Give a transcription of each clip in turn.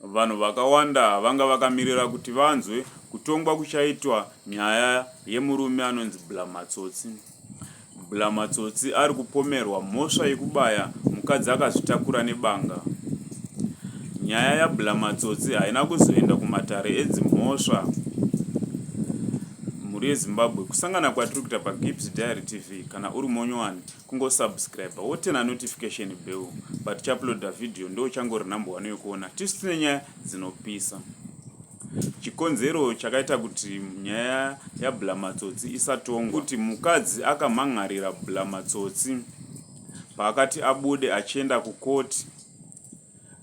Vanhu vakawanda vanga vakamirira kuti vanzwe kutongwa kuchaitwa nyaya yemurume anonzi Blamatsotsi. Blamatsotsi ari kupomerwa mhosva yekubaya mukadzi akazvitakura nebanga. Nyaya yaBlamatsotsi haina kuzoenda kumatare edzimhosva mhuri yeZimbabwe kusangana kwatiri kuita paGibbs Diary TV kana uri monyowani kungosubscriber wotena notification bell but chauploada video ndo uchangori number one yokuona tisu tine nyaya dzinopisa chikonzero chakaita kuti nyaya yabulamatsotsi isatongwa kuti mukadzi akamhan'arira bulamatsotsi paakati abude achienda kukoti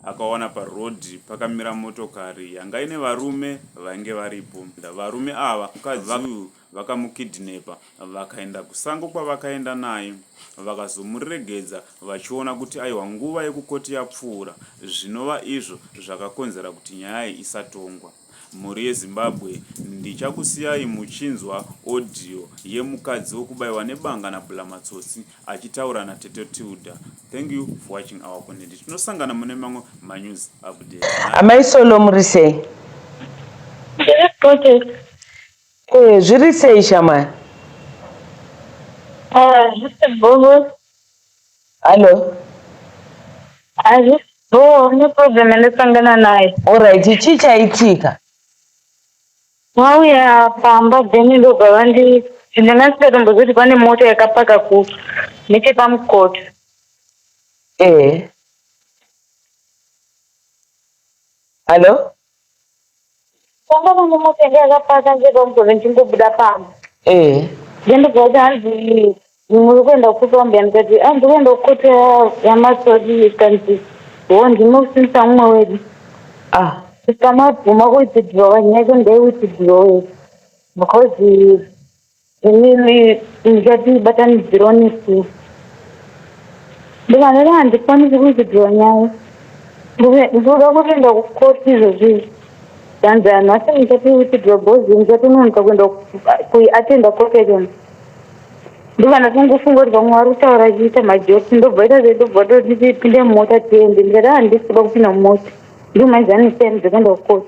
akawana parhodhi pakamira motokari yanga ine varume vainge varipo varume ava mukadzi uyu vakamukidhinepa vakaenda kusango kwavakaenda naye vakazomuregedza vachiona kuti aiwa nguva yekukoti yapfuura zvinova izvo zvakakonzera kuti nyaya iyi isatongwa mhuri yezimbabwe ndichakusiyai muchinzwa audio yemukadzi wekubaiwa nebanga nabulamatsotsi achitaura natete tilda thank you for watching our content tinosangana mune mamwe manews update amai solo muri sei Eh, zviri sei shamwari? Ah, boo. Hello. Hazvisi boo, ne problem andisangana nayo. Alright, chii chaitika? Vauya pamba then ndobva vandi ndanga ndisikatomboziva kuti pane mota yakapaka ku nechepamukoto. Eh. Hello. Pamba pangu motenda yakapaka ndega mugove ndichingobuda pamba. Eh. Ndendibva kuti hanzi muri kuenda kukupa mbuya ndikati ah ndiri kuenda kukoto yamasodi ikanzi ho ndinosimisa mumwe wedu. Ah. Sister mabvuma kuwitidhirowa nyaya yako ndaiwitidhirowei because Inini ndikati batanidzirwa nesu ndikanera handikwanisi kuidzidzirwa nyaya ndoda kuenda kukoti izvozvi zvanzi anhu asi ndikati witidwa bhozi ndikati unonoka kuenda kuiatenda koti yacho ndikana kungofunga kuti vamwe vari kutaura chiita majoti ndobva ita zve ndobva totipinde mumota tiende ndikati handisi kuda kupinda mumota ndimaizaniseni dzekuenda kukoti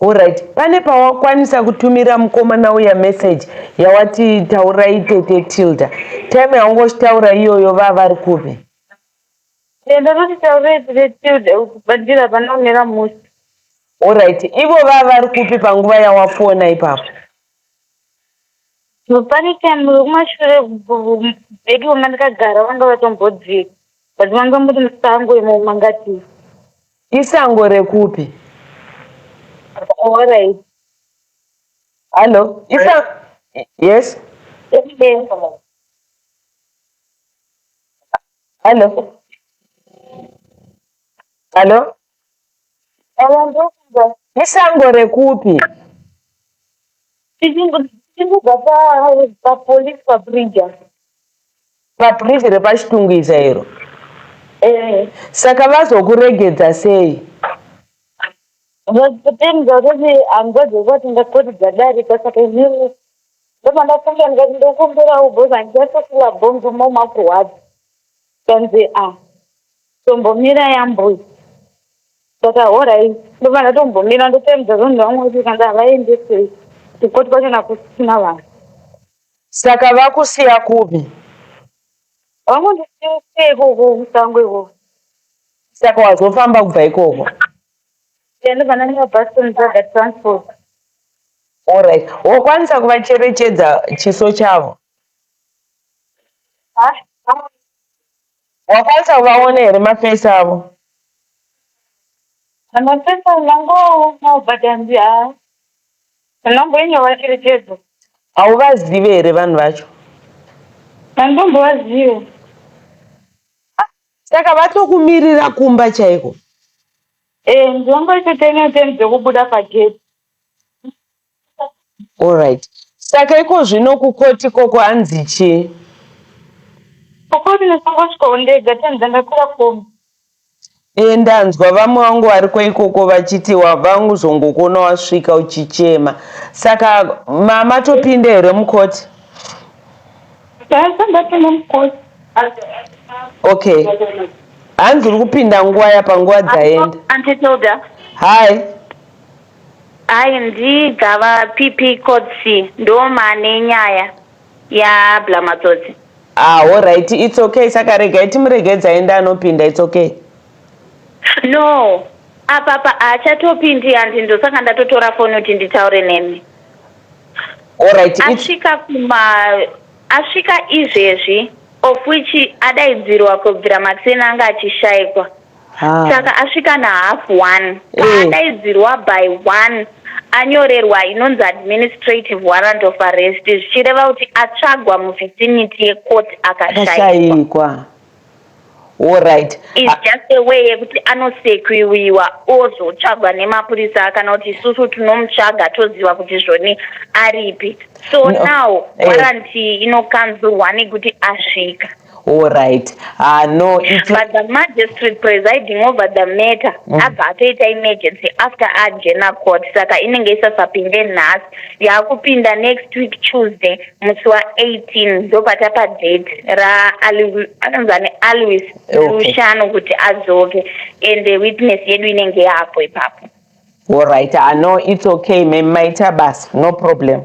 Horaiti pane pawakwanisa kutumira mukomana uya message yawati taurai tete Tilda time yaungoshitaura iyoyo vava vari kupi? Ndakati taurai tete Tilda ukubandira hapana kumira mushe. Horaiti ivo vava vari kupi panguva yawafona ipapo? Pane time wekumashure bedroom mandikagara vanga vatombodzika but manga muri musango imo mangatiza. Isango rekupi? Alright. Hello. Isa yes. Hello. Hello. Isango rekupi? tichingobva papolice pabrija pabriji repachitungwiza iro eh. saka vazokuregedza sei vazotenga kuti hangozi kwati ndakoti dzadarika saka izvii ndomandafunga ndikati ndokumbirawo bhozi handiyatosila bhonzo momakurwadza kanzi a ah, Tombomira yambuya. Saka horai ndobva ndatombomira ndotaimudza zvanhu vamwe kuti kana havaendesei kukoti kwacho nakusina vanhu. Saka vakusiya kupi? Vangondisiya ikoko musango ikoko. Saka wazofamba kubva ikoko? Ehe ndobva ndanyora bus ndotsvaga transport. Horai. Wokwanisa kuvacherechedza chiso chavo? Haa. Wakwanisa kuvaona here maface avo. Maface avo ndangoonawo but hanzi haa ndamboinyora cherechedzo. Hauvazive here vanhu vacho. Handombovazive. Saka vatokumirira kumba chaiko. Eeh ndongoita ten ten dzekubuda pagate. Alright. Saka iko zvino kukoti ikoko hanzi chii? Kukoti ndakangosvikawo ndega tani dzandakwira kombi. Ehe ndanzwa vamwe vangu variko ikoko vachiti vanguzongokuona wasvika uchichema. Saka ma matopinda here mukoti? Ndasati ndapinda mukoti. Okay. Hanzi uri kupinda nguva yapa nguva dzaenda. Auntie Tilda. Hi. Hayi ndigava PP coz ndomane nyaya ya bla matsotsi. Haa horaiti its ok saka regai timuregedze aende anopinda its ok. No apapa haachatopindi and ndosaka ndatotora foni kuti nditaure nemi. Horaiti its. Asvika kuma asvika izvezvi of which adaidzirwa kubvira makuseni anga achishaikwa. Haa. saka asvika nahalf one Eh. paadaidzirwa by one anyorerwa inonzi administrative warrant of arrest zvichireva kuti atsvagwa muvicinity yecourt akashaikwa akashaikwa allright is just a way yekuti anosekiwiwa ozotsvagwa nemapurisa kana kuti isusu tinomutsvaga toziva kuti zvoni aripi so No. now Eh. waranti inokanzurwa nekuti asvika Alright. Ah no, it's But the magistrate presiding over the matter mm. abva atoita emergency after ajena court saka inenge isasapinde nhasi yaakupinda next week Tuesday musi wa 18 ndopata pa date ra anonzani Alwis Lushano okay. kuti azoke and the witness yedu inenge yapo ipapo. Alright. Ah no, it's okay. Maita basa. No problem.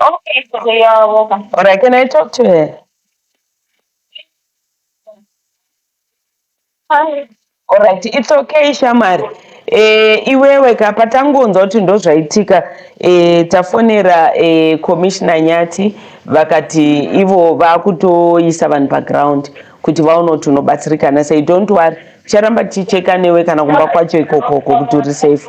Okay, so they are welcome. All right, can I talk to her? Hi. All right, it's okay Shamari. Eh, iwewe ka patangonzwa kuti ndozvaitika eh, tafonera eh, commissioner Nyati vakati ivo vakutoisa vanhu paground kuti vaone kuti unobatsirikana sei. Don't worry, ticharamba tichicheka newe kana kumba kwacho ikokoko kuti uri safe.